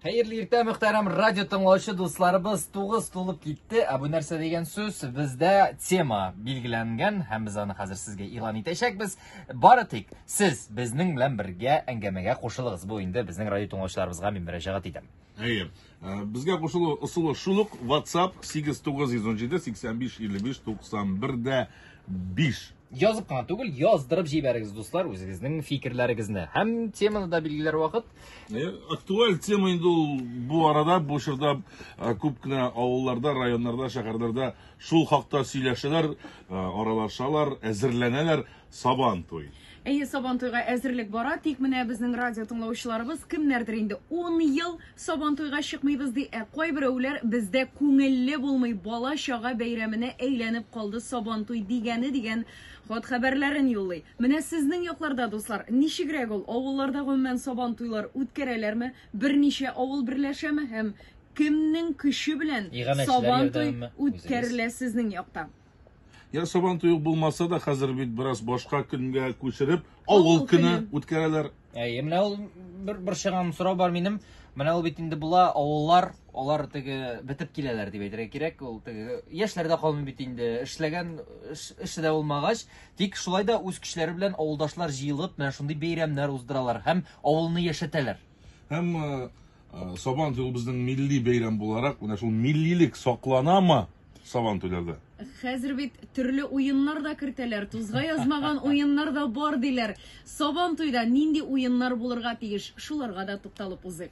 Хәерле иртә, мөхтәрәм радио тыңлаучы дусларыбыз, тугыз тулып китте. Ә бу нәрсә дигән сүз? Бездә тема билгеләнгән һәм без аны хәзер сезгә игълан итәчәкбез. Бары тик сез безнең белән бергә әңгәмәгә кушылыгыз. Бу инде безнең радио тыңлаучыларыбызга мин мөрәҗәгать итәм. Әйе. Э, безгә кушылу ысулы шул ук. WhatsApp 8917 85 55 91 дә 5. Язып кына түгел, яздырып җибәрегез, дуслар, үзегезнең фикерләрегезне. Һәм теманы да билгеләр вакыт. Э, актуаль тема инде ул бу арада, бу чорда э, күп кенә авылларда, районнарда, шәһәрләрдә шул хакта сөйләшәләр, э, аралашалар, әзерләнәләр Сабан туй. Әйе, Сабан туйга әзерлек бара, тик менә безнең радио тыңлаучыларыбыз кемнәрдер инде 10 ел Сабантуйга чыкмыйбыз ди, ә кайберәүләр бездә күңелле булмый, бала-чага бәйрәменә әйләнеп калды Сабантуй дигәне дигән хат-хәбәрләрен юллый. Менә сезнең якларда, дуслар, ничегрәк ул, авылларда гомумән Сабантуйлар үткәрәләрме, берничә авыл берләшәме һәм кемнең көче белән Сабантуй үткәрелә сезнең якта? Я сабантуй ук булмаса да, хәзер бит бераз башка көнгә күчереп, авыл көне үткәрәләр. Әйе, менә ул бер борчыган сорау бар минем. Менә ул бит инде була, авыллар, алар теге бетеп киләләр дип әйтергә кирәк. Ул теге яшьләр дә калмый бит инде, эшләгән эше дә булмагач, тик шулай да үз көчләре белән авылдашлар җыелып, менә шундый бәйрәмнәр уздыралар һәм авылны яшәтәләр. Һәм Сабан туй безнең милли бәйрәм буларак, менә шул миллилек сакланамы Сабан туйларда? Хәзер бит төрле уеннар да кертәләр, тузга язмаган уеннар да бар диләр. Сабан туйда нинди уеннар булырга тиеш? Шуларга да тукталып узыйк.